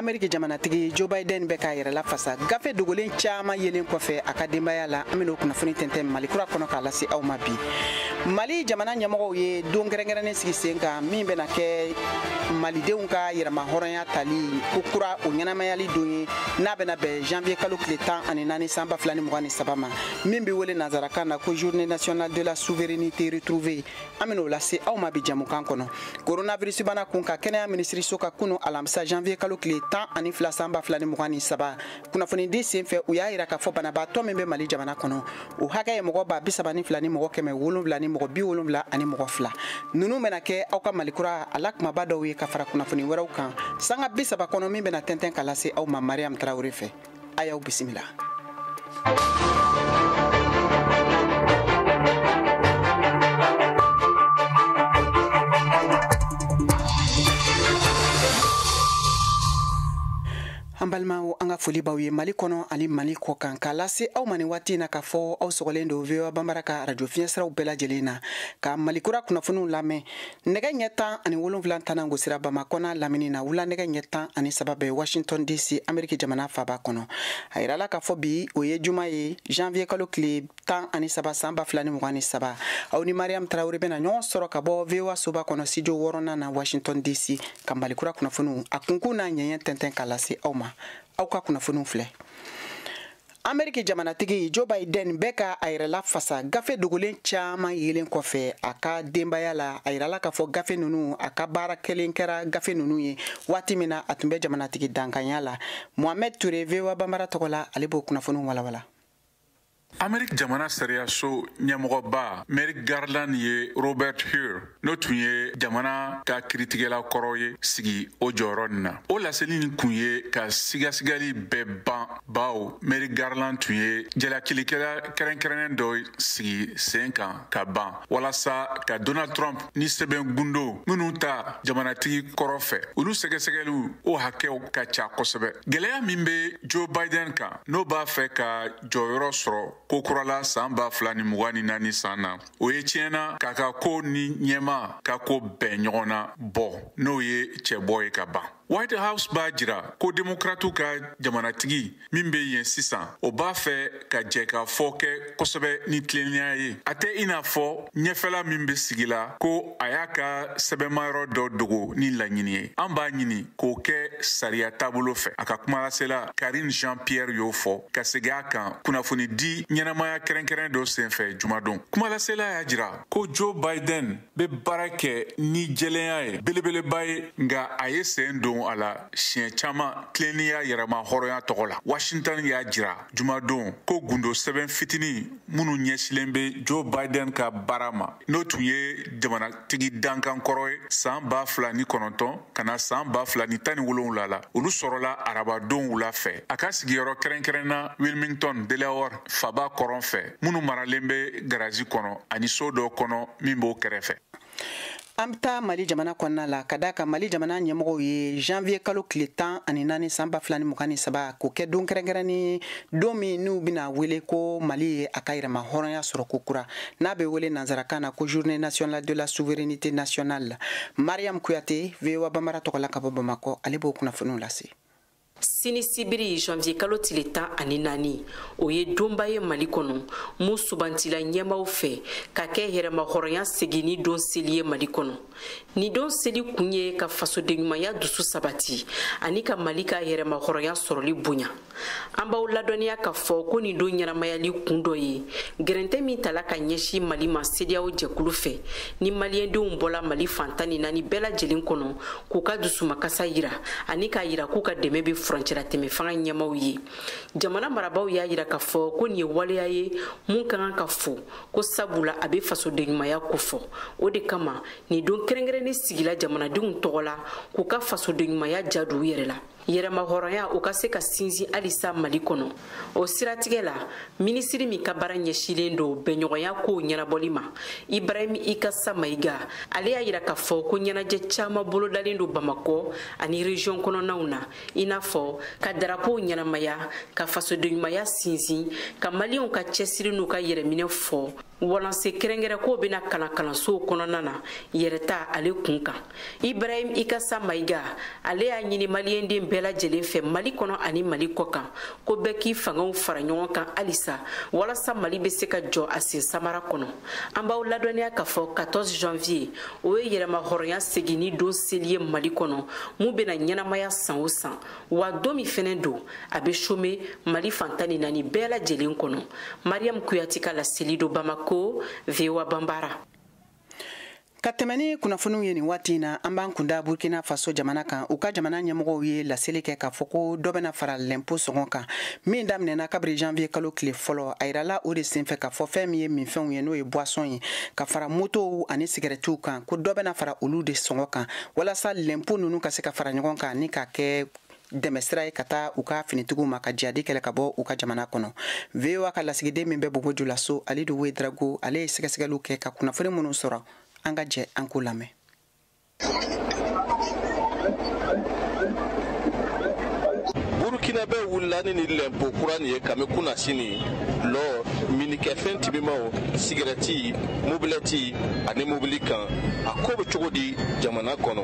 ameriki jamanatigi joe biden bɛ k'a yɛrɛ lafasa gafe dogolen caaman yelen kɔfɛ a ka denbaya la an bɛn'o kunnafoni tɛntɛn malikura kɔnɔ k'a lase aw ma bi mali jamana ɲɛmɔgɔw ye don kɛrɛnkɛrɛnnen sigi sen kan min bɛna kɛ malidenw ka yɛrɛmahɔrɔnya tali ko kura o ɲɛnamayali don ye n'a bɛna bɛn janvier kalo tile tan ani naani san ba fila ni mugan ni saba ma min bɛ wele nazarakan na ko journée nationale de la souveraineté retrouvée an bɛn'o lase aw ma bi jamukan kɔnɔ coronavirus bana kun kan kɛnɛya minisiriso ka kunu alamisa janvier kalo tile tan ani fila san ba fila ni mugan ni saba kunnafonidi sen fɛ u y'a yira k'a fɔ banabaatɔ min bɛ mali jamana kɔnɔ o hakɛ ye mɔgɔ ba bi saba ni fila ni mɔgɔ kɛmɛ wolonfila ni mɔgɔ bi wolonfila ani mɔgɔ fila ninnu bɛna kɛ aw ka malikura a la kumaba dɔw ye ka fara kunnafoni wɛrɛw kan sanga bi saba kɔnɔ min bɛna tɛntɛn ka lase aw ma mariam traoré fɛ a y'aw bisimila an balimaw an ka foli b'aw ye mali kɔnɔ ani mali kɔ kan k'a lase aw ma nin waati in na k'a fɔ aw sɔgɔlen don voa banbara ka arajo fiɲɛsiraw bɛɛ lajɛlen na ka malikura kunnafoniw lamɛn nɛgɛ ɲɛ tan ani wolonfila tanan gosira bamakɔ n'a lamini na wula nɛgɛ ɲɛ tan ani saba bɛ washington dc ameriki jamana faba kɔnɔ a yirala k'a fɔ bi o ye juma ye janvier kalo tile tan ani saba san ba fila ni mugan ni saba aw ni mariam traoré bɛna ɲɔgɔn sɔrɔ ka bɔ voa soba kɔnɔ studio wɔɔrɔnan na washington dc ka malikura kunnafoniw a kunkun n'a ɲɛɲɛ tɛntɛn ka lase aw ma aw ka kunnafoniw filɛ ameriki jamanatigi joe biden bɛ ka a yɛrɛ lafasa gafe dogolen caman yelen kɔfɛ a ka denbaya la a yirala k'a fɔ gafe ninnu a ka baara kɛlen kɛra gafe ninnu ye waati min na a tun bɛ jamanatigi dankanya la mohamed touré voa banbara tɔgɔ la ale b'o kunnafoniw walawala ameriki jamana sariyaso ɲɛmɔgɔba merrick garland ye robert hur n'o tun ye jamana ka kiritigɛla kɔrɔ ye sigi o jɔyɔrɔ nin na o laseli nin kun ye ka sigasigali bɛɛ ban baw merrick garland tun ye jalakilikɛla kɛrɛnkɛrɛnnen dɔ sigi sen kan ka ban walasa ka donald trump ni sɛbɛn gundo minnu ta jamanatigi kɔrɔ fɛ olu sɛgɛsɛgɛliw o hakɛw ka ca kosɛbɛ gwɛlɛya min be joe biden kan n'o b'a fɛ ka jɔyɔrɔ sɔrɔ kokura la saan ba fila ni mugan ni naani saan na o ye tiɲɛ na k'a ka ko ni ɲɛmaa ka ko bɛn ɲɔgɔn na bɔ n'o ye cɛbɔ ye ka ban white house b'a jira ko demokratiw ka jamanatigi min be yen sisan o b'a fɛ ka jɛkafɔ kɛ kosɛbɛ ni tilennenya ye a tɛ i n'a fɔ ɲɛfɛla min bɛ sigi la ko a y'a ka sɛbɛnmayɔrɔ dɔ dogo ni laɲini ye an b'a ɲini k'o kɛ sariya taabolo fɛ a ka kumalasela karine jean pierre y'o fɔ ka segin a kan kunnafonidi ɲɛnamaya kɛrɛnkɛrɛn dɔ senfɛ jumadon kumalasela y'a jira ko joe biden bɛ baara kɛ ni jɛlenya ye belebeleba ye nka a ye sen don a la siɲɛ caman tilennenya yɛrɛmahɔrɔnya tɔgɔ la washington y'a jira jumadon ko gundo sɛbɛn fitini minnu ɲɛsilen bɛ joe biden ka baara ma n'o tun ye jamanatigi dankan kɔrɔ ye san ba fila ni kɔnɔntɔn ka na san ba fila ni tan ni wolonwula la olu sɔrɔla arabadon wula fɛ a ka sigiyɔrɔ kɛrɛnkɛrɛn na wilmington delaware faba kɔrɔn fɛ minnu maralen bɛ garazi kɔnɔ ani so dɔ kɔnɔ min b'o kɛrɛfɛ an bɛ taa mali jamana kɔnɔna la k'a d'a kan mali jamana ɲɛmɔgɔw ye janvier kalo tile tan ani naani san ba fila ni mugan ni saba k'o kɛ don kɛrɛnkɛrɛnnen don min n'u bɛna wele ko mali ye a ka yɛrɛmahɔrɔnya sɔrɔ kokura n'a bɛ wele nansarakan na ko journée nationale de la souveraineté nationale mariam kuyate voa banbara tɔgɔ la ka bɔ bamakɔ ale b'o kunnafoniw lase sini sibiri janvier kalo tile tan ani naani o ye donba ye mali kɔnɔ mun sugandila ɲɛmaw fɛ ka kɛ yɛrɛmahɔrɔnya seginni don seli ye mali kɔnɔ nin don seli kun ye ka fasodenɲumanya dusu sabati ani ka mali ka yɛrɛmahɔrɔnya sɔrɔli bonya an b'aw ladɔnniya k'a fɔ ko nin don ɲɛnamayali kun dɔ ye gɛrɛntɛ min tala ka ɲɛsin mali ma cedeao jɛkulu fɛ ni maliyɛndenw bɔla mali fan tan ni naani bɛɛ lajɛlen kɔnɔ k'u ka dusumakasa yira ani k'a yira k'u ka dɛmɛ bɛ furancɛlatɛmɛ fanga ɲɛmaw ye jamana marabaw y'a yira k'a fɔ ko nin ye waleya ye mun ka kan ka fo ko sabula a bɛ fasodenɲumanya kofɔ o de kama nin don kɛrɛnkɛrɛnnen sigila jamanadenw tɔgɔ la k'u ka fasodenɲumanya ja don u yɛrɛ la yɛrɛmahɔrɔnya o ka se ka sinsin halisa mali kɔnɔ o siratigɛ la minisiri min ka baara ɲɛsilen don bɛnɲɔgɔnya kow ɲɛnabɔli ma ibrahim ikasa mayiga ale y'a yira k'a fɔ ko ɲɛnajɛ caman bolodalen don bamakɔ ani région kɔnɔnaw na i n'a fɔ ka darapow ɲɛnamaya ka fasodenɲumanya sinsin ka maliyɛnw ka cɛsiri n'u ka yɛrɛminɛ fɔ walasa kɛrɛnkɛrɛn kow bɛna kalan kalansow kɔnɔna na yɛrɛta ale kun kan ibrahim ikasa mayiga ale y'a ɲini maliyɛnden bɛɛ lajɛlen fɛ mali kɔnɔ ani mali kɔkan ko bɛɛ k'i fangaw fara ɲɔgɔn kan halisa walasa mali bɛ se ka jɔ a sen samara kɔnɔ an b'aw ladɔnniya k'a fɔ 14 janvier o ye yɛrɛmahɔrɔnya seginni don seli ye mali kɔnɔ mun bɛna ɲɛnamaya san o san wa don min fɛnɛ don a bɛ chômé mali fan tan ni naani bɛɛ lajɛlen kɔnɔ mariyamu kuyate ka laseli don bamako voa banbara ka tɛmɛ ni kunnafoniw ye nin waati in na an b'an kunda burkina faso jamana kan u ka jamana ɲɛmɔgɔw ye laseli kɛ k'a fɔ ko dɔ bɛna fara lɛnpo sɔngɔ kan min daminɛna kabiri janvier kalo tile fɔlɔ a yirala o de senfɛ k'a fɔ fɛn min ye minfɛnw ye n'o ye boisson ye ka fara motow ani sigɛrɛtiw kan ko dɔ bɛna fara olu de sɔngɔ kan walasa lɛnpo ninnu ka se ka fara ɲɔgɔn kan ni k'a kɛ dɛmɛ sira ye ka taa u ka finitigiw ma ka jihadi kɛlɛ ka bɔ u ka jamana kɔnɔ voa ka lasigiden min bɛ bobo julaso alidu wedrago ale ye sɛgɛsɛgɛliw kɛ ka kunnafoni minnu sɔrɔ an ka jɛ an k'o lamɛn burkinabɛ wulila ni ni lɛnpo kura nin ye kami kunnasini lɔ minikɛfɛn timimaw sigɛrɛti mobilɛti ani mobili kan a ko bɛ cogo di jamana kɔnɔ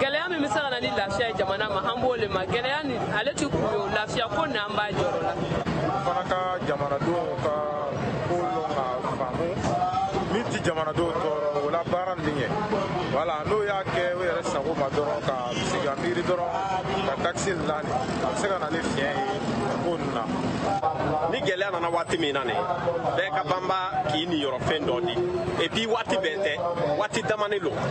gɛlɛya min bɛ se ka na ni lafiya ye jamana ma an b'o le ma gɛlɛya nin ale ti kun ye o lafiya ko na an b'a jɔrɔ la fana ka jamanadenw ka ko lɔn k'a faamu min ti jamanadenw tɔɔrɔ o la baara nin ɲɛ voilà n'o y'a kɛ o yɛrɛ sago ma dɔrɔn ka sigi ka miiri dɔrɔn ka takisi nin lani a bɛ se ka na ni fiɲɛ ye ko nin na ni gɛlɛya nana waati min na nin bɛɛ ka banba k'i niyɔrɔ fɛn dɔ di et puis waati bɛɛ tɛ waati damani lo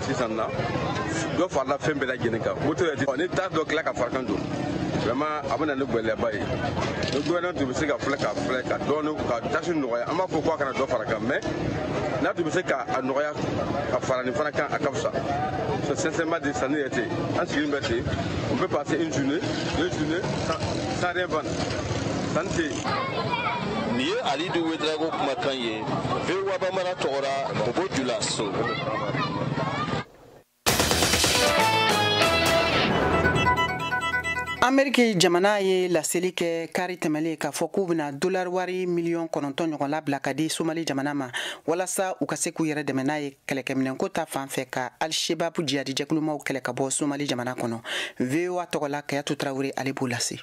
sisan na dɔ farala fɛn bɛɛ lajɛlen kan moto yɛrɛ ti ni taxe dɔ tila ka fara a kan donc vraiment a bɛ na ni gɛlɛyaba ye ni gouvernement tun bɛ se ka filɛ ka filɛ ka dɔɔni ka taxe nɔgɔya an m'a fɔ ko a kana dɔ fara kan mais n'a tun bɛ se ka a nɔgɔya ka fara nin fana kan a ka fisa c'est sincèrement dit sanni yɛrɛ tɛ an sigilen bɛ ten on peut passer une journée deux journées sans, sans rien vendre sanni tɛ yen nin ye alidu wedrago kumakan ye bambara tɔgɔra bobo jula so ameriki jamana ye laseli kɛ kari tɛmɛlen k'a fɔ k'u bɛna dolari wari miliyɔn kɔnɔntɔn ɲɔgɔn labila ka di somali jamana ma walasa u ka se k'u yɛrɛ dɛmɛ n'a ye kɛlɛkɛminɛnko ta fan fɛ ka alshebabu jihadi jɛkulumaw kɛlɛ ka bɔ somali jamana kɔnɔ voa tɔgɔla kayatu traore ale b'o lase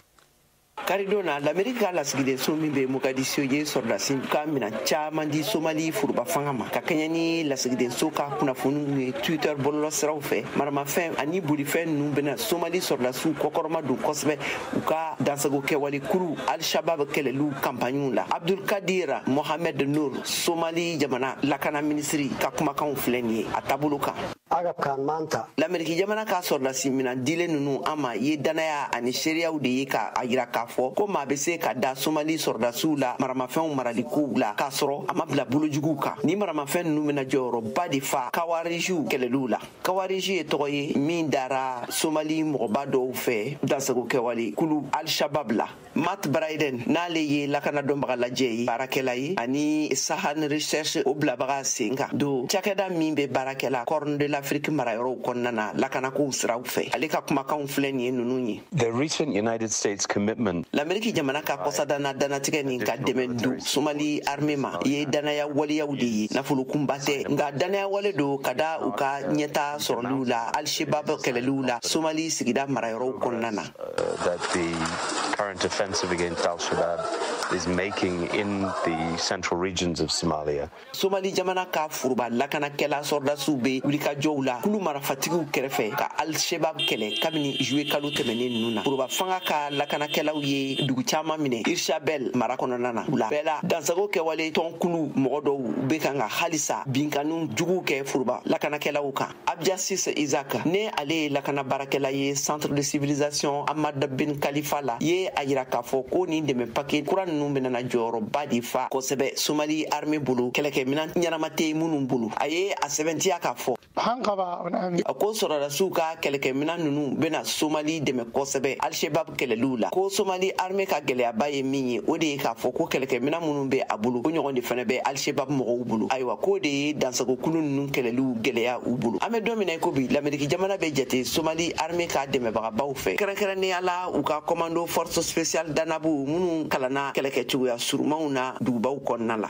karidon na lameriki ka lasigidenso min bɛ mogadisio ye sɔrɔdasiw ka minan caaman di somali furuba fanga ma ka kɛɲɛ ni lasigidenso ka kunnafoniw ye twitter bɔlɔlɔ siraw fɛ maramafɛn ani bolifɛn ninnu bena somali sɔrɔdasiw kɔkɔrɔma don kosɛbɛ u ka dansago kɛwale kuru al-shabab kɛlɛliw kanpaɲiw la abdulkadir mohamed nur somali jamana lakana minisiri ka kumakanw filɛ nin ye a taabolo kan agabkan maanta lameriki jamana ka sɔrɔdasi minan dilen nunu an ma ye danaya ani seereyaw de ye ka a yira k'a fɔ ko maa be se ka da somali sɔrɔdasiw la maramafɛnw maralikow la k'a sɔrɔ a ma bila bolojuguw kan ni maramafɛn nunu bena jɔyɔrɔba de fa kawarijiw kɛlɛliw la kawariji ye tɔgɔ ye min dara somali mɔgɔba dɔw fɛ dansago kɛwale kulu alshabab la Matt Bryden n'ale ye lakana dɔnbaga lajɛ ye baarakɛla ye ani Sahan Research o bilabaga sen kan don cakɛda min bɛ baarakɛla Corne de l'Afrique marayɔrɔw kɔnɔna na lakanakow siraw fɛ ale ka kumakanw filɛ nin ye ninnu ye The recent United States commitment Lameriki jamana ka kɔsa danna dannatigɛ nin ka dɛmɛ don Somali armée ma ye dannaya waleyaw de ye nafolokunba tɛ nka dannaya wale don ka da u ka ɲɛtaa sɔrɔliw la Al-Shabaab kɛlɛliw la Somali sigida marayɔrɔw kɔnɔna na that the current offensive against Al Shabaab is making in the central regions of Somalia. Somali jamana ka foroba lakanakɛla sɔrɔdasiw bɛ wulikajɔw la kulu marafatigiw kɛrɛfɛ ka Al Shabaab kɛlɛ kabini juillet kalo tɛmɛnen ninnu na. Foroba fanga ka lakanakɛlaw ye dugu caman minɛ Hirshabelle mara kɔnɔna na. U la bɛɛ la dansago kɛwale tɔnkulu mɔgɔ dɔw bɛ kan ka halisa binkanniw juguw kɛ foroba lakanakɛlaw kan. abdiaziz isaak n'ale ye lakana baarakɛla ye centre de civilisation hamad bin khalifa la ye a yira k'a fɔ ko nin dɛmɛ pake kura nunu bena na jɔyɔrɔba de fa kosɛbɛ somali arme bolo kɛlɛkɛminan ɲɛnama tɛ minnu bolo a ye a sɛbɛntiya k'a fɔ a ko sɔrɔdasiw ka kɛlɛkɛminan nunu bena somali dɛmɛ kosɛbɛ alshebab kɛlɛliw la ko somali arme ka gɛlɛyaba ye min ye o de ye k'a fɔ ko kɛlɛkɛminan minnu bɛ a bolo o ɲɔgɔn de fana bɛ alshebab mɔgɔw bolo ayiwa k'o de ye dansagokulu ninnu kɛlɛliw gɛlɛya u bolo an bɛ don min na i ko bi lameriki jamana bɛ jate somali arme ka dɛmɛbagabaw fɛ kɛrɛnkɛrɛnnenya la u ka kɔmando force special danabuw minnu kalanna kɛlɛkɛ cogoya surumanw na dugubaw kɔnɔna la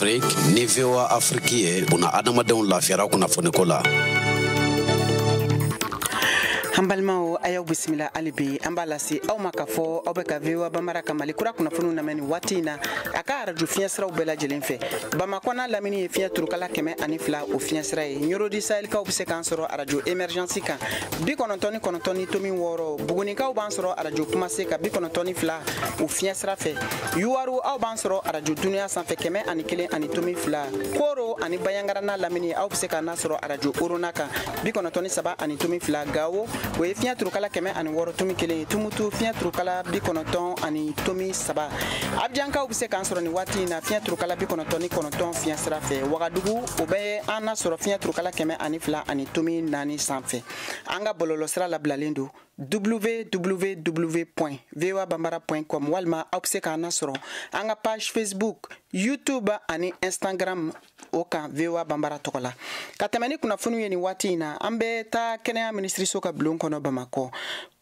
afrik ni voa afriki ye buna adamadenw lafiyara kunnafoniko la an balimaw a y'aw bisimila hali bi an b'a lase aw ma k'a fɔ aw bɛ ka voa banbara ka mali kura kunnafoniw lamɛn nin waati in na a ka arajo fiɲɛ siraw bɛɛ lajɛlen fɛ bamakɔ n'a lamini ye fiɲɛ turukala kɛmɛ ani fila o fiɲɛ sira ye ɲɔrɔ du sahɛlikaw be se k'an sɔrɔ arajo emergɛnsi kan bi kɔnɔntɔn ni kɔnɔntɔn tomi wɔɔrɔ bugunikaw b'an sɔrɔ arajo kumase kan bi kɔnɔntɔn ni fila o fiɲɛ sira fɛ yuwaru aw b'an sɔrɔ arajo duniya sanfɛ kɛmɛ ani kelen ani tomi fila koro ani banjagara n'a lamini aw be se k'an nasɔrɔ arajo orona kan bi kɔnɔntɔn ni saba ani tomi fila gawo o ye fiɲɛ turukala kɛmɛ ani wɔɔrɔ tomi kelen ye tumutu fiɲɛ turukala bi kɔnɔntɔn ani tomi saba abijankaw bɛ se k'an sɔrɔ nin waati in na fiɲɛ turukala bi kɔnɔntɔn ni kɔnɔntɔn fiɲɛ sira fɛ wagadugu o bɛ an nasɔrɔ fiɲɛ turukala kɛmɛ ani fila ani tomi naani sanfɛ an ka bɔlɔlɔsira labilalen don www voa banbara com walima aw bɛ se k'an nasɔrɔ an ka page facebook youtube ani instagram o kan voa banbara tɔgɔ la ka tɛmɛ ni kunnafoniw ye nin waati in na an bɛ taa kɛnɛya minisiriso ka bulon kɔnɔ bamakɔ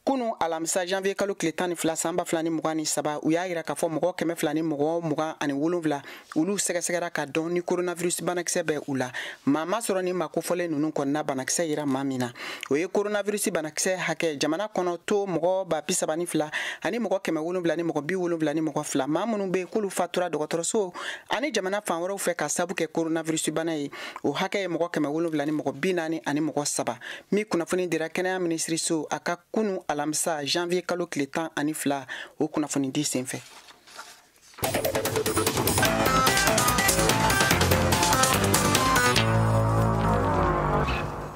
kunu alamisa janvier kalo tile tan ni fila san ba fila ni mugan ni saba u y'a yira k'a fɔ mɔgɔ kɛmɛ fila ni mɔgɔ mugan ani wolonfila olu sɛgɛsɛgɛra ka dɔn ni coronavirus banakisɛ bɛ u la maa ma sɔrɔ nin maa kofɔlen ninnu kɔnɔna banakisɛ yera maa min na o ye coronavirus banakisɛ hakɛ jamana kɔnɔ to mɔgɔ ba bi saba ni fila ani mɔgɔ kɛmɛ wolonfila ni mɔgɔ bi wolonfila ni mɔgɔ fila maa minnu bɛ k'olu fatura dɔgɔtɔrɔso ani jamana fan wɛrɛw fɛ ka sabu kɛ coronavirus bana ye o hakɛ ye mɔgɔ kɛmɛ wolonfila ni mɔgɔ bi naani ani mɔgɔ saba min kunnafoni dira kɛnɛya minisiriso a ka kunu alamisa janvier kalo tile tan ani fila o kunnafonidi senfɛ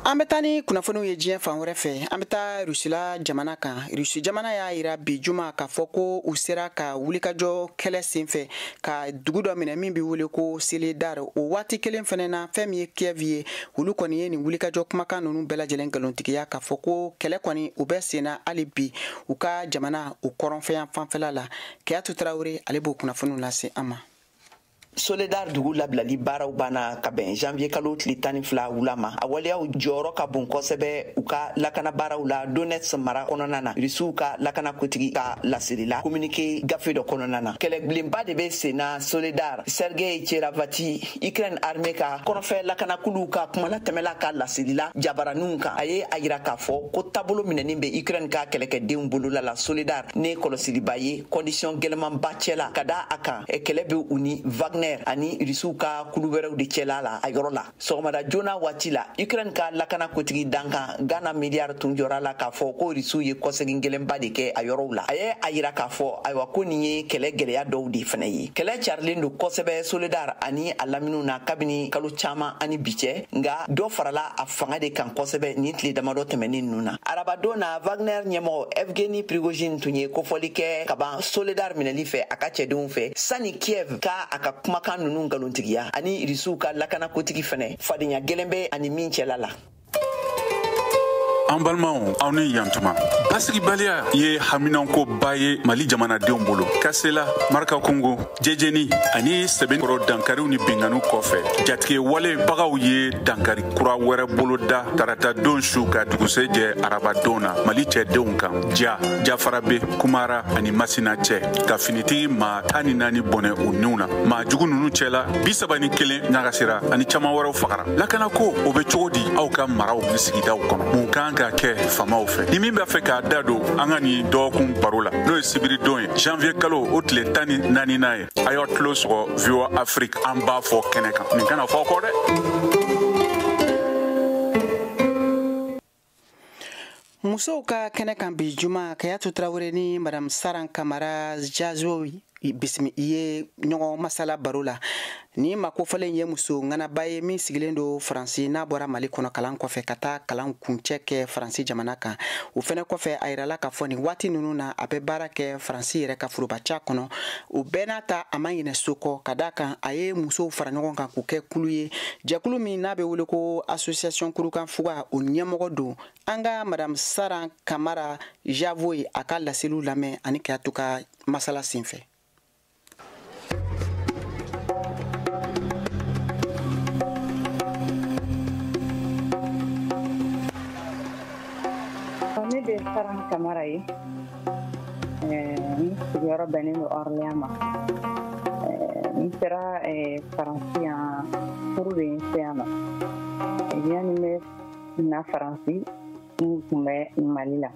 an bɛ taa ni kunnafoniw ye diɲɛ fan wɛrɛ fɛ an bɛ taa rusila jamana kan rusi jamana y'a yira bi juma k'a fɔ ko u sera ka wulikajɔ kɛlɛ senfɛ ka dugu dɔ minɛ min bɛ wele ko soledar o waati kelen fɛnɛ na fɛn min ye kiev ye olu kɔni ye nin wulikajɔ kumakan nunu bɛɛ lajɛlen nkalontigiya k'a fɔ ko kɛlɛ kɔni o bɛ senna hali bi u ka jamana o kɔrɔnfɛ yanfanfɛla la kadiatou traoré ale b'o kunnafoniw lase an ma soledar dugu labilali baaraw banna ka bɛn janvier kalo tile tan ni fila wula ma a waleyaw jɔyɔrɔ ka bon kosɛbɛ u ka lakana baaraw la donetsk mara kɔnɔna na rusiw ka lakana kotigi ka laseli la kominike gafe dɔ kɔnɔna na kɛlɛbilenba de bɛ senna soledar sergei cherevaty ukraine armée ka kɔrɔnfɛ lakanakuluw ka kumalatɛmɛla ka laseli la jabaraninw kan a ye a yira k'a fɔ ko taabolo minɛnin bɛ ukraine ka kɛlɛkɛdenw bolola la soledar ni kɔlɔsiliba ye kɔndisiyɔn gɛlɛmanba cɛla ka da a kan kɛlɛ bɛ u ni wagner ani rusiw ka kulu wɛrɛw de cɛla la a yɔrɔ la sɔgɔmada joona waati la ukraine ka lakana kotigi dankan ganna maliar tun jɔra la k'a fɔ ko rusiw ye kɔsegin gɛlɛnba de kɛ a yɔrɔw la a ye a yira k'a fɔ ayiwa ko nin ye kɛlɛ gɛlɛya dɔw de fɛnɛ ye kɛlɛ carilen don kosɛbɛ soledar ani a laminiw na kabini kalo caaman ani bi cɛ nga dɔ farala a fanga de kan kosɛbɛ nin tile damadɔ tɛmɛnin nunu na arabadon na wagner ɲɛmɔgɔ evgeni prigojine tun ye kofɔli kɛ kaban soledar minɛli fɛ a ka cɛdenw fɛ sani kiev ka a ka kumakan nunu nkalontigiya ani rusiw ka lakanakotigi fɛnɛ fadenya gɛlɛn bɛ a ni min cɛla la an balimaw aw ni yantuma basigibaliya ye haminankoba ye mali jamanadenw bolo kasela marakakungo jejeni ani sebekɔrɔ dankariw ni binkanniw kɔfɛ jatigɛwalebagaw ye dankari kura wɛrɛ boloda tarata don su ka dugusɛ jɛ arabadon na mali cɛdenw kan ja jafarabe kumara ani masina cɛ ka finitigi maa tan ni naani bɔnɛ u niw na maa jugu nunu cɛla bi saba ni kelen ɲagasira ani caman wɛrɛw fagara lakanako o bɛ cogo di aw ka maraw ni sigidaw kɔnɔ mun kan ka kɛ faamaw fɛ ni min b'a fɛ k'a da don an ka nin dɔgɔkun baro la n'o ye sibiridon ye janvier kalo o tile tan ni naaninan ye a y'aw tulo sɔgɔ voa afrique an b'a fɔ kɛnɛ kan nin kana fɔ kɔ dɛ musow ka kɛnɛ kan bi juma kayatu tarawele ni madam saran kamara jazo bisimi ye ɲɔgɔn masala baro la nin maa kofɔlen ye muso ŋanaba ye min sigilen don faransi n'a bɔra mali kɔnɔ kalan kɔfɛ ka taa kalan kuncɛ kɛ faransi jamana kan o fɛnɛ kɔfɛ a yirala k'a fɔ nin waati nunu na a bɛ baara kɛ faransi yɛrɛ ka forobaca kɔnɔ o bɛɛ n'a ta a ma ɲinɛ so kɔ ka da kan a ye musow fara ɲɔgɔn kan k'u kɛ kulu ye jɛkulu min n'a bɛ wele ko association kurukan fuga o ɲɛmɔgɔ don an ka madame saran kamara javo ye a ka laseliw lamɛn ani kayatu ka masala senfɛ ne bɛ saran kamara ye sigiyɔrɔ bɛnnen don Orléans mais n sera Faransi yan furu de ye n se yan nɔ yanni n bɛ na Faransi n tun bɛ Mali la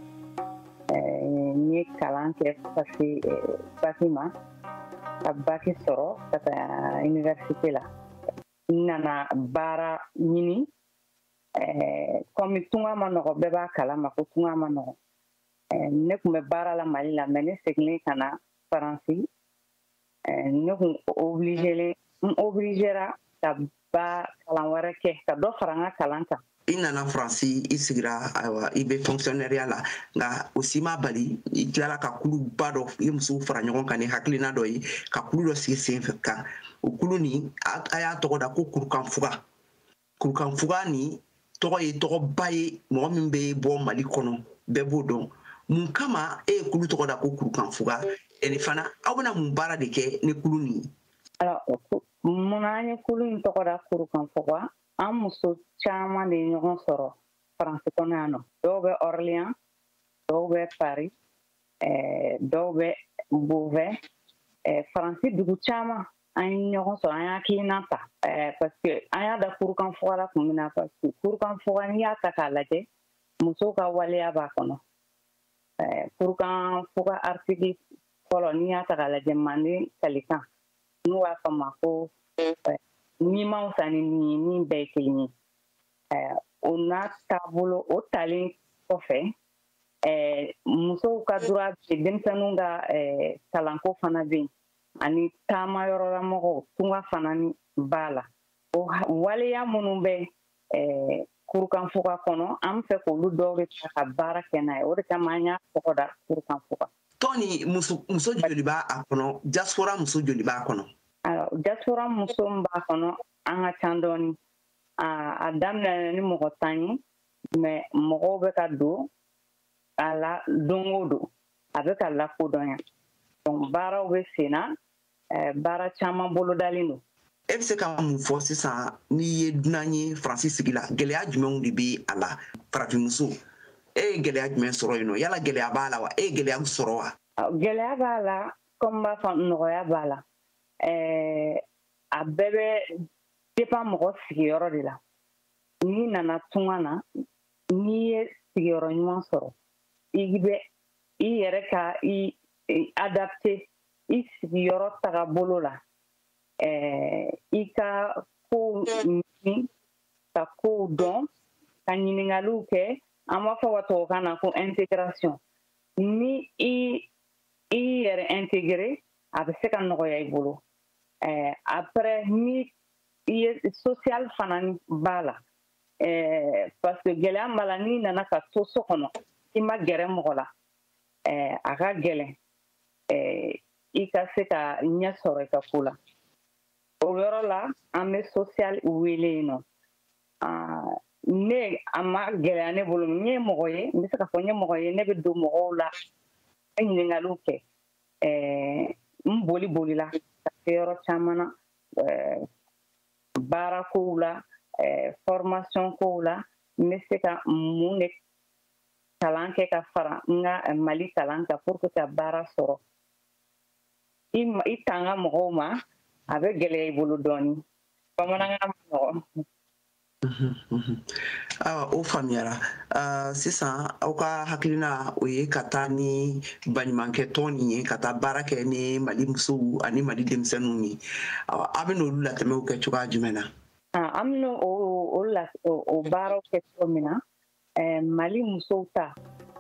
n ye kalan kɛ fo ka se baki ma ka baki sɔrɔ ka taa université la n nana baara ɲini kɔmi tunga ma nɔgɔ bɛɛ b'a kalama ko tunga ma nɔgɔ ne tun bɛ baara la mali la mais ne seginnen ka na faransi ne tun obligelen n obligera ka ba kalan wɛrɛ kɛ ka dɔ fara n ka kalan kan i nana faransi i sigira ayiwa i bɛ fonctionnaireya la nka o si m'i bali i tilala ka kuluba dɔ i ye musow fara ɲɔgɔn kan ni hakilina dɔ ye ka kulu dɔ sigi sen kan o kulu nin a y'a tɔgɔ da ko kurukanfuga kurukanfuga nin tɔgɔ ye tɔgɔba ye mɔgɔ min bɛ bɔ mali kɔnɔ bɛɛ b'o dɔn mun kama e ye kulu tɔgɔ da ko kurukanfuga ani fana aw bɛna mun baara de kɛ ni kulu nin ye munna an ye kulu in tɔgɔ da kurukanfuga an muso caman de ye ɲɔgɔn sɔrɔ faransi kɔnɔ yan nɔ dɔw bɛ orléans dɔw bɛ paris eh, dɔw bɛ beauvais eh, faransi dugu caman an ye ɲɔgɔn sɔrɔ an y'a hakilina ta eh, parce que an y'a da kurukanfuga la kun min na parce que kurukanfuga n'i y'a ta k'a lajɛ muso ka waleya b'a kɔnɔ kurukanfuga article fɔlɔ n'i y'a ta k'a lajɛ manden kalikan n'u b'a f'a ma ko ni man fisa ni ni ye ni bɛɛ ye kelen ye o n'a taabolo o talen kɔfɛ musow ka droit bɛ denmisɛnninw ka kalanko fana bɛ yen ani taama yɔrɔlamɔgɔw tunga fana b'a la o waleya minnu bɛ kurukanfuga kɔnɔ an b'a fɛ k'olu dɔw de ta ka baara kɛ n'a ye o de kama an y'a tɔgɔ da kurukanfuga tɔn nin muso joli b'a kɔnɔ diaspora muso joli b'a kɔnɔ diaspora muso min b'a kɔnɔ an ka can dɔɔni a daminɛ ni mɔgɔ tan ye mais mɔgɔw bɛ ka don a la don o don a bɛ ka lakodɔn yan donc baaraw bɛ sen na baara caman bolodalen don e bɛ se ka mun fɔ sisan n'i ye dunan ye faransi sigi la gɛlɛya jumɛnw de bɛ a la farafinmuso e ye gɛlɛya jumɛn sɔrɔ yen nɔ yala gɛlɛya b'a la wa e ye gɛlɛya sɔrɔ wa gɛlɛya b'a la comme i b'a fɔ nɔgɔya b'a la a bɛɛ bɛ dépend mɔgɔ sigiyɔrɔ de la n'i nana tunga na n'i ye sigiyɔrɔ ɲuman sɔrɔ i bɛ i yɛrɛ ka i adapter i sigiyɔrɔ tagabolo la eh, i ka kow ɲini ka kow dɔn ka ɲiningaliw kɛ an b'a fɔ ka tubabukan na ko intégration ni i i yɛrɛ intégrer a bɛ se ka nɔgɔya i bolo ɛɛ après milieu social fana b'a la ɛɛ parce que gɛlɛya b'a la n'i nana ka to so kɔnɔ i ma gɛrɛ mɔgɔ la ɛɛ a ka gɛlɛn ɛɛ i ka se ka ɲɛ sɔrɔ i ka ko la o yɔrɔ la an bɛ social wele yen nɔ ne a ma gɛlɛya ne bolo n ye mɔgɔ ye n bɛ se k'a fɔ n ye mɔgɔ ye ne bɛ don mɔgɔw la ka ɲininkaliw kɛ eh, n boli bolila ka se yɔrɔ caman na eh, baara kow la eh, formation kow la n bɛ se ka mun de kalan kɛ ka fara n ka mali kalan kan pour que ka baara sɔrɔ i tanga mɔgɔw ma a bɛ gɛlɛya i bolo dɔɔni bamanankan man nɔgɔn awa o faamuyara uh, sisan aw ka hakilina o ye ka taa ni baɲumankɛ tɔn nin ye ka taa baara kɛ ni mali musow ani mali denmisɛnninw ye awa a bɛn'olu latɛmɛw kɛ cogoya jumɛn na an bɛna o baaraw kɛ cogo min na eh, mali musow ta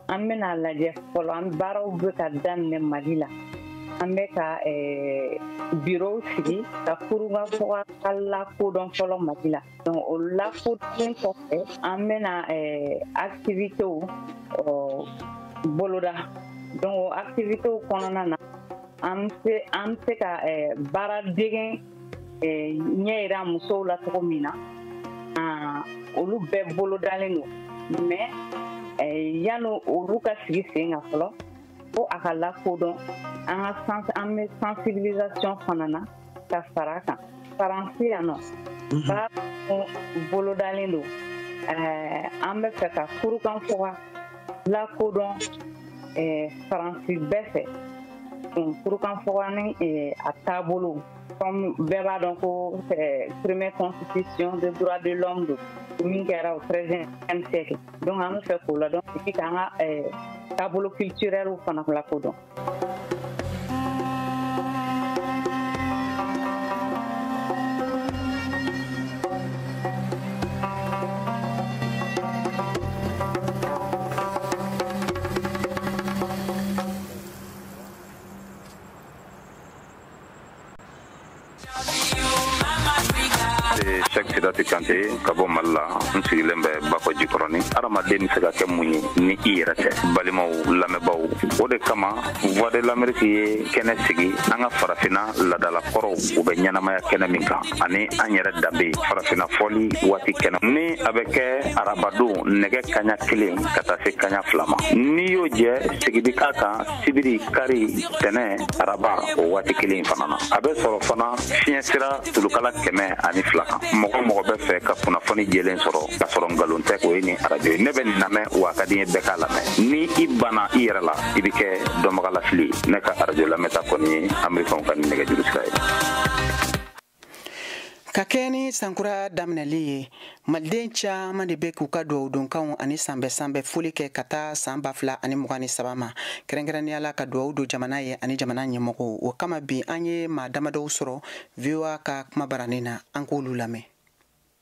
an bɛna lajɛ fɔlɔ an baaraw bɛ ka daminɛ mali la an bɛ ka eh, birow sigi ka kurukanfuga ka lakodɔn fɔlɔ mali la donc o lakodɔnnen kɔfɛ an bɛna eh, activitéw oh, boloda donc o activitéw kɔnɔna na an bɛ se ka baara degen eh, ɲɛ yira musow la cogo min na ah, olu bɛɛ bolodalen don mais eh, yanni olu ka sigi sen kan fɔlɔ fo a ka lakodɔn an ka an bɛ sensibilisation fana na ka fara a kan faransi yan nɔ mhm. baara bolodalen don eh, an b'a fɛ ka kurukanfuga lakodɔn faransi bɛɛ fɛ Kurukan fɔkan ni a taabolo bɛɛ b'a dɔn ko peremɛ kɔnsisisiɔn bɛ bɔra de lɔn don min kɛra o fɛn an bɛ fɛ k'o la dɔn k' ka taabolo kiirɛw fana fila ko dɔn sɛki sidati kante ka bɔ mali la n sigilen bɛ bakɔ jikɔrɔni adamaden be se ka kɛ mun ye ni i yɛrɛ tɛ balimaw lamɛnbaw o de kama voix de l'amérique ye kɛnɛ sigi an ka farafina ladala kɔrɔw u bɛ ɲɛnamaya kɛnɛ min kan ani an yɛrɛ danbe farafina fɔli waati kɛnɛ ni a bɛ kɛ arabadon nɛgɛ kaɲa kelen ka taa se kaɲa fila ma n'i y'o jɛ segin bi k'a kan sibiri kari tɛnɛ araba o waati kelen fana na a bɛ sɔrɔ fana fiɲɛ sira tulukala kɛmɛ ani fila kan mɔgɔ o mɔgɔ bɛ fɛ ka kunnafoni jɛlen sɔrɔ ka sɔrɔ nkalon tɛ o ye nin arajo ye ne bɛ nin lamɛn wa a ka di n ye bɛɛ k'a lamɛn ni i banna i yɛrɛ la i bɛ kɛ dɔnbagalafili ye ne ka arajo lamɛnta kɔni ye amerikɛnw ka nɛgɛjuru sira ye ka kɛɲɛ ni sankura daminɛli ye maliden caman de bɛ k'u ka dugawudonkanw ani sanbɛ sanbɛ foli kɛ ka taa san ba fila ani mugan ni saba ma kɛrɛnkɛrɛnnenya la ka dugawu don jamana ye ani jamana ɲɛmɔgɔw o kama bi an ye maa damadɔw sɔrɔ voa ka kuma baranin na an k'olu lamɛn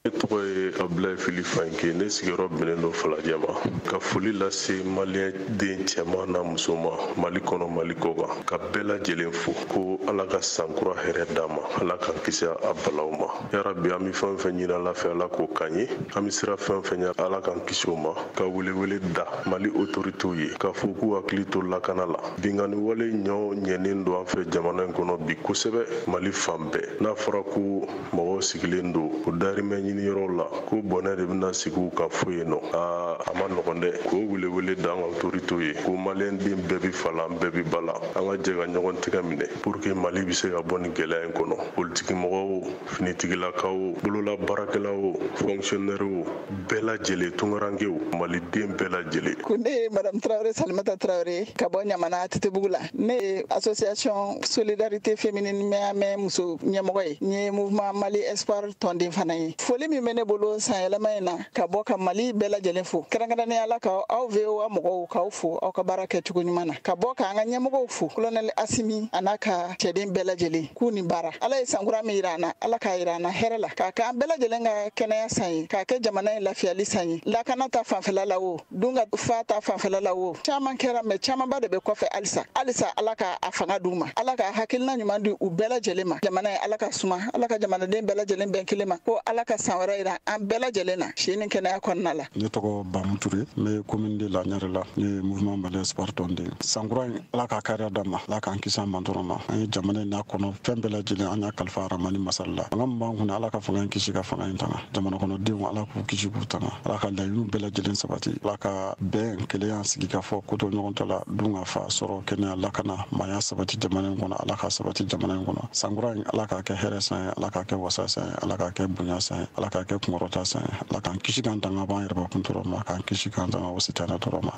ne tɔgɔ ye abulayi fili fayinke ne sigiyɔrɔ bɛnnen don falajɛ ma ka foli lase maliyɛn den cɛman n'a musoman mali kɔnɔ mali kɔkan ka bɛɛ lajɛlen fo ko ala ka sankura hɛrɛ d'an ma ala k'an kisi a balaw ma yarabi an be fɛn fɛn ɲini ala fɛ ala k'o k'an ye an be siran fɛn fɛn ɲa ala k'an kisi o ma ka welewele da mali otoritew ye k'a fɔ k'u hakili to lakana la binkanni wale ɲɔ ɲɛnen don an fɛ jamana in kɔnɔ bi kosɛbɛ mali fan bɛɛ n'a fɔra ko mɔgɔw sigilen don u dahirimɛ ɲiniyɔrɔw la ko bɔnɛ de bɛna sigiw ka fo yen nɔ aa a man nɔgɔn dɛ k'o welewele da an ka otoritew ye ko maliyɛn den bɛɛ bi fa la an bɛɛ bi ba la an ka jɛ ka ɲɔgɔn tɛgɛ minɛ pour que mali bɛ se ka bɔ nin gɛlɛya in kɔnɔ politikimɔgɔw o finitigilakaw o bolola baarakɛlaw o fɔnkisiyɔnɛriw o bɛɛ lajɛlen tunkarankew maliden bɛɛ lajɛlen ko ne ye madamu tarawele salimata tarawele ka bɔ ɲamana atetebugu la ne ye association solidarité féminine mɛamɛ muso ɲɛmɔgɔ ye n ye mouvement mali espoir tɔnden fana ye foli min bɛ ne bolo sanyɛlɛma in na ka bɔ ka mali bɛɛ lajɛlen fo kɛrɛnkɛrɛnnenya la ka aw voa mɔgɔw k'aw fo aw ka baara kɛ cogo ɲuman na ka bɔ k'an ka ɲɛmɔgɔw fo kolonɛli asimi a n'a ka cɛden bɛɛ lajɛlen k'u ni baara ala ye sankura min yira an na ala k'a yira an na hɛrɛ la k'a k'an bɛɛ lajɛlen ka kɛnɛya san ye k'a kɛ jamana in lafiyali san ye lakana ta fanfɛla la o dunkafa ta fanfɛla la o caman kɛra mɛ camanba de bɛ kɔfɛ halisa halisa ala ka a fanga d'u ma ala ka hakilina ɲuman di u bɛɛ lajɛlen ma jamana in ala k'a suma ala ka jamanaden bɛɛ lajɛlen bɛn kelen ma ko ala ka san wɛrɛ yira an bɛɛ lajɛlen na si ni kɛnɛya kɔnɔna la ne tɔgɔ bamu ture n bɛ komini deux la ɲarela ne ye mouvement malien sport tɔnden sankura in ala k'a kariya d'an ma ala k'an kisi a mantɔɔrɔ ma an ye jamana in n'a kɔnɔ fɛn bɛɛ lajɛlen an y'a kalifa aramani masa ala la fanga min b'an kun na ala ka fanga in kisi ka fanga in tanga jamana kɔnɔdenw ala k'u kisi k'u tanga ala ka laɲiniw bɛɛ lajɛlen sabati ala ka bɛn kelenya sigikafɔ kotoɲɔgɔntala dunkafa sɔrɔ kɛnɛya lakana maaya sabati jamana in kɔnɔ ala k'a sabati jamana in kɔnɔ sankura in ala k'a kɛ hɛrɛ san ye ala k'a kɛ wasa san ye ala k'a kɛ bonya san ye ala k'a kɛ kunkɔrɔta san ye ala k'an kisi k'an tanga b'an yɛrɛbakun tɔɔrɔ ma k'an kisi k'an tanga wa sitanɛ tɔɔrɔ ma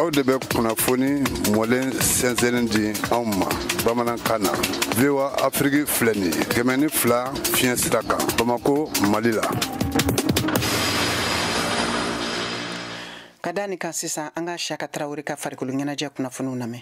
aw de bɛ kunnafoni mɔlen sɛnsɛnnen di anw ma bamanankan na voa afiriki filɛ nin ye kɛmɛ ni fila fiɲɛ sira kan bamako mali la ka da nin kan sisan an ka siyaka tarawele ka farikolo ɲɛnajɛ kunnafoniw lamɛn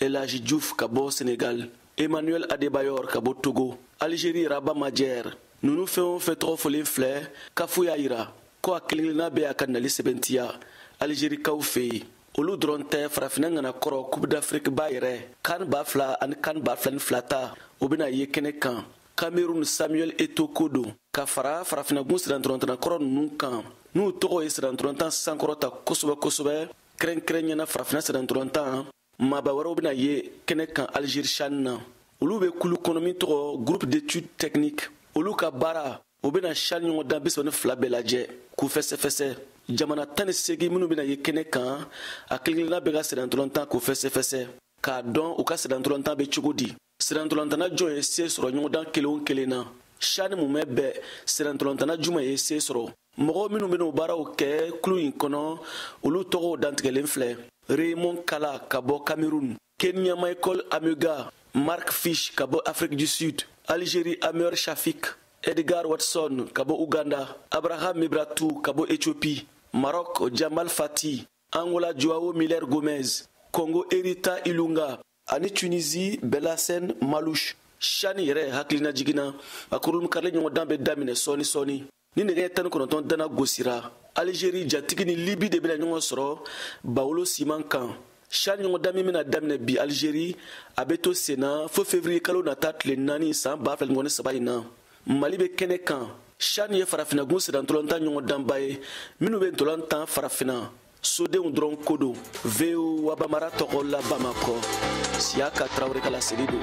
el hadji diouf ka bɔ senegal emmanuel adebayor ka bɔ togo algérie rabah madjer ninnu fɛn o fɛn tɔgɔ fɔlen filɛ kafu y'a yira ko a kelenkelenna bɛ a ka nali sɛbɛntiya algerikaw fɛ yen olu dɔrɔn tɛ farafinna ŋana kɔrɔ coupe d'afrique ba yɛrɛ kan ba fila ani kan ba fila ni fila ta o bɛna ye kɛnɛ kan cameroun samuel eto'o ko don ka fara farafinagun sennantolantanna kɔrɔ ninnu kan n'u tɔgɔ ye sennantolantan sankɔrɔta kosɛbɛ kosɛbɛ kɛrɛnkɛrɛnnenya la farafina sennantolantan maaba wɛrɛw bɛna ye kɛnɛ kan algérie shan na olu bɛ kulu kɔnɔ min tɔgɔ groupe d'étude technique olu ka baara u bɛna shan ɲɔgɔndan bisaba ni fila bɛɛ lajɛ k'u fɛsɛfɛsɛ jamana tan ni segin minnu bɛna ye kɛnɛ kan a kelenkelenna bɛɛ ka sennantolantan k'o fɛsɛfɛsɛ k'a dɔn u ka sennantolantan bɛ cogo di sennantolantanna jumɛn ye se sɔrɔ ɲɔgɔndan kelen o kelen na shani mumɛ bɛɛ sennantolantanna jumɛn ye se sɔrɔ mɔgɔ minnu bɛna o baaraw kɛ kulu in kɔnɔ olu tɔgɔw dantigɛlen filɛ raymond kalla ka bɔ cameroun kenya michael amenga mark fish ka bɔ afrique du sud algérie ameur chafik edgar watson ka bɔ uganda abraham mebratu ka bɔ ethiopie maroc jamal fathi angola joao miller gomes congo herita ilunga ani tunisi belhassen malouche shani yɛrɛ hakilinajigin na a kurunbonkarili ɲɔgɔndan bɛ daminɛ sɔɔni sɔɔni ni nɛgɛ ɲɛ tan ni kɔnɔntɔn dana gosira alizeri jatigi ni libi de bɛna ɲɔgɔn sɔrɔ bawolo siman kan shani ɲɔgɔndan min bɛna daminɛ bi alizeri a bɛ to senna fo fevriye kalo nata tile naani san baa fila mugan ni saba in na mali bɛ kɛnɛ kan shani ye farafinagun sennantolantan ɲɔgɔndanba ye minnu bɛ ntolan tan farafina sodenw dɔrɔn ko don voa bambara tɔgɔ la bamakɔ siyaka tarawele ka laseli don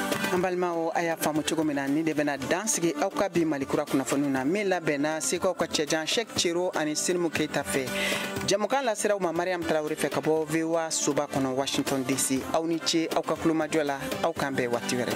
an balimaw a y'a faamu cogo min na nin de bɛna dan sigi aw ka bi mali kura kunnafoniw na min labɛnna sekaw ka cɛjan shek cero ani sinimu keita fɛ jɛmukan lasera aw ma mariam tarawele fɛ ka bɔ voa soba kɔnɔ washington dc aw ni ce aw ka tulomajɔ la aw k'an bɛn waati wɛrɛ